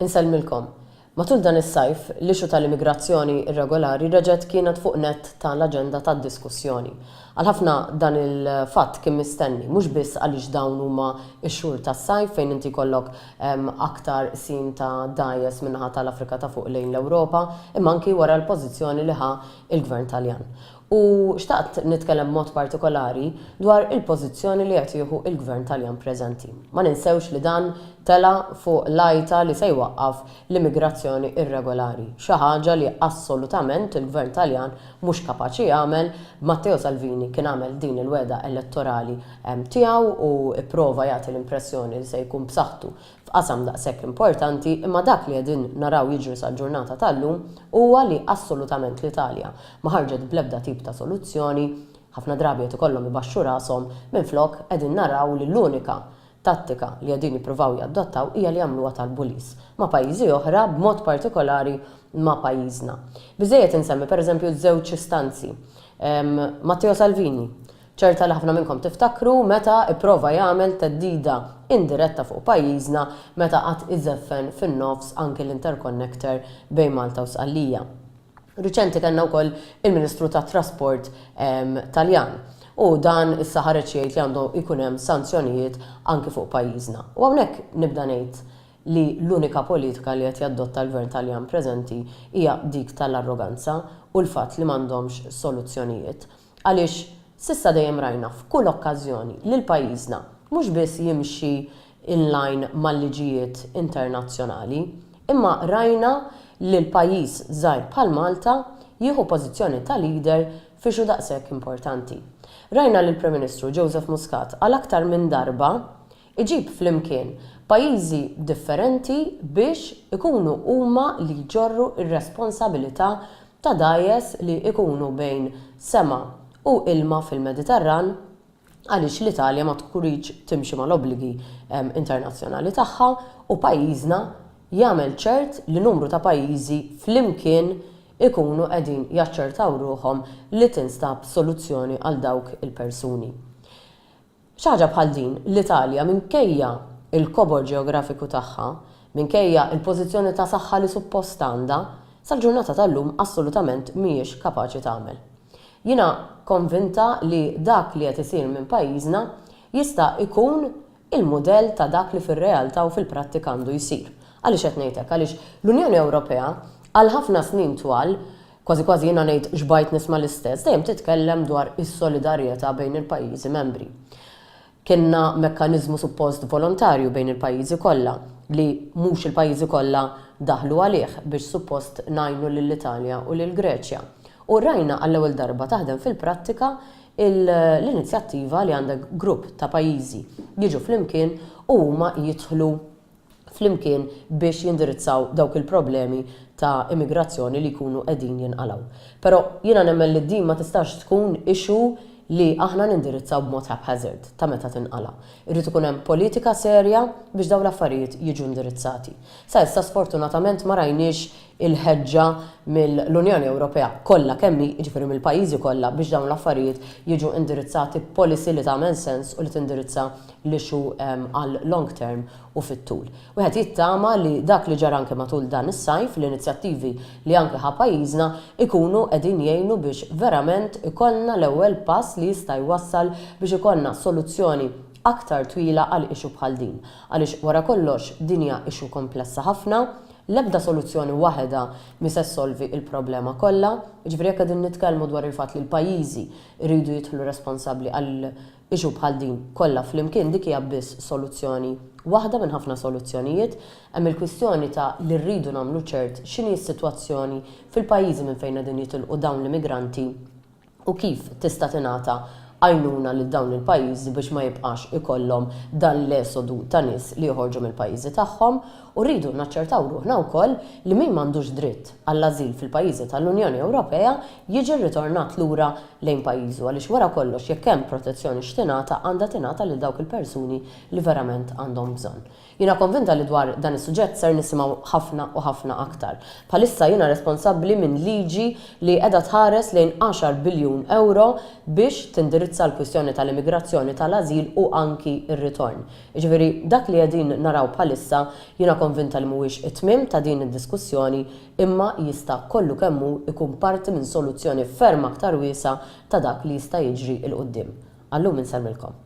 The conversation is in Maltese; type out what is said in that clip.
Insellmilkom. Matul dan is-sajf, l-issue tal-immigrazzjoni irregolari reġgħet kienet fuq nett ta' l-aġenda tad-diskussjoni. Għal ħafna dan il-fatt kien mistenni, mhux biss għaliex dawn huma x-xhur tas-sajf fejn inti jkollok aktar qsim ta' dgħajjes min-naħa ta' l-Afrika ta' Fuq lejn l-Ewropa, imma anki wara l-pożizzjoni li ħa l-Gvern Taljan. U xtaqt nitkellem b'mod partikolari dwar il-pożizzjoni li qed jieħu il-Gvern Taljan preżenti. Ma ninsewx li dan tela' fuq l-għajta li se jwaqqaf l-immigrazzjoni irregolari, xi ħaġa li assolutament il-Gvern Taljan mhux kapaċi jagħmel, b'Matteo Salvini kien għamel din il-wegħda elettorali tiegħu u pprova jagħti l-impressjoni li se jkun b'saħħtu f'qasam daqshekk importanti, imma dak li qegħdin naraw jiġri sal-ġurnata tal-lum huwa li assolutament l-Italja ma ħarġet bl-ebda tip ta' soluzzjoni, ħafna drabi qed ikollhom ibaxxu rashom, minflok qegħdin naraw li l-unika tattika li qegħdin jippruvaw jadottaw hija li jagħmluha tal-bulis ma' pajjiżi oħra, b'mod partikolari ma' pajjiżna. Biżżejjed insemmi, pereżempju, żewġ istanzi. Matteo Salvini, Ċerta li ħafna minnkom tiftakru meta ipprova jagħmel theddida indiretta fuq pajjiżna meta qagħad iżeffen fin-nofs anki l-interconnector bejn Malta u Sqallija. Riċenti kellna wkoll il-Ministru tat-Trasport Taljan u dan issa ħareġ jgħid li għandu jkun hemm sanzjonijiet anki fuq pajjiżna. U hawnhekk nibda ngħid li l-unika politika li qed jadotta l-Gvern Taljan preżenti hija dik tal-arroganza u l-fatt li m'għandhomx soluzzjonijiet. Għaliex s'issa dejjem rajna f'kull okkażjoni li l-pajjiżna mhux biss jimxi in line mal-liġijiet internazzjonali, imma rajna lil pajjiż żgħir bħal Malta jieħu pożizzjoni ta' leader f'issue daqshekk importanti. Rajna lill-Prim Ministru Joseph Muscat għal aktar minn darba iġib flimkien pajjiżi differenti biex ikunu huma li jġorru r-responsabilità ta' dgħajjes li jkunu bejn sema u ilma fil-Mediterran għaliex l-Italja ma tridx timxi mal-obbligi internazzjonali tagħha u pajjiżna jagħmel ċert li numru ta' pajjiżi flimkien ikunu qegħdin jaċċertaw ruħhom li tinstab soluzzjoni għal dawk il-persuni. Xi ħaġa bħal din, l-Italja, minkejja l-kobor ġeografiku tagħha, minkejja l-pożizzjoni ta' saħħa li suppost għandha, sal-ġurnata tal-lum assolutament mhijiex kapaċi tagħmel. Jiena konvinta li dak li qed isir minn pajjiżna jista' jkun il-mudell ta' dak li fir-realtà u fil-prattika għandu jsir. Għaliex qed ngħid hekk? Għaliex l-Unjoni Ewropea għal ħafna snin twal Kważi kważi jiena ngħid xbajt nisma' l-istess, dejjem titkellem dwar is-solidarjetà bejn il-pajjiżi membri. Kellna mekkaniżmu suppost volontarju bejn il-pajjiżi kollha, li mhux il-pajjiżi kollha daħlu għalih biex suppost ngħinu lill-Italja u lill-Greċja. U rajna għall-ewwel darba taħdem fil-prattika l-inizjattiva li għandek grupp ta' pajjiżi jiġu flimkien u huma jidħlu flimkien biex jindirizzaw dawk il-problemi ta' immigrazzjoni li jkunu qegħdin jinqalgħu. Però jiena nemmen li din ma tistax tkun issue li aħna nindirizzaw b'mod haphazard ta' meta tinqala'. Irid ikun hemm politika serja biex dawn l-affarijiet jiġu indirizzati. Sa issa sfortunatament ma rajniex il-ħeġġa mill-Unjoni Ewropea kollha kemm hi, jiġifieri mill-pajjiżi kollha, biex dawn l-affarijiet jiġu indirizzati b'policy li tagħmel sens u li tindirizza l-issue għall-long term u fit-tul. Wieħed jittama li dak li ġara anke matul dan is-sajf, l-inizjattivi li anke ħa pajjiżna, ikunu qegħdin jgħinu biex verament ikollna l-ewwel pass li jista' jwassal biex ikollna soluzzjoni aktar twila għal issue bħal din. Għaliex wara kollox din hija issue komplessa ħafna, L-ebda soluzzjoni waħedha mhi se ssolvi l-problema kollha. Jiġifieri jekk qegħdin nitkellmu dwar il-fatt li l-pajjiżi jridu jidħlu responsabbli għal issue bħal din kollha flimkien dik hija biss soluzzjoni waħda minn ħafna soluzzjonijiet. Hemm il-kwistjoni ta' li rridu nagħmlu ċert x'inhi s-sitwazzjoni fil-pajjiżi minn fejn qegħdin jitilqu dawn l-immigranti u kif tista' tingħata għajnuna lil dawn il-pajjiżi biex ma jibqax ikollhom dan l-esodu ta' nies li joħorġu mill-pajjiżi tagħhom, u rridu naċċertaw ruħna wkoll li min m'għandux dritt għall-ażil fil-pajjiżi tal-Unjoni Ewropea jiġi rritornat lura lejn pajjiżu għaliex wara kollox jekk hemm protezzjoni x'tingħata għandha tingħata lil dawk il-persuni li verament għandhom bżonn. Jiena konvinta li dwar dan is-suġġett ser nisimgħu ħafna u ħafna aktar. Bħalissa jiena responsabbli minn liġi li qiegħda tħares lejn għaxar biljun ewro biex tindirizza l-kwistjoni tal-immigrazzjoni, tal-ażil u anki r-ritorn. Jiġifieri dak li qegħdin naraw bħalissa jiena konvinta li mhuwiex it-tmiem ta' din id-diskussjoni imma jista' kollu kemm hu jkun parti minn soluzzjoni ferm aktar wiesgħa ta' dak li jista' jiġri 'l quddiem. Għal-lum insellmilkom.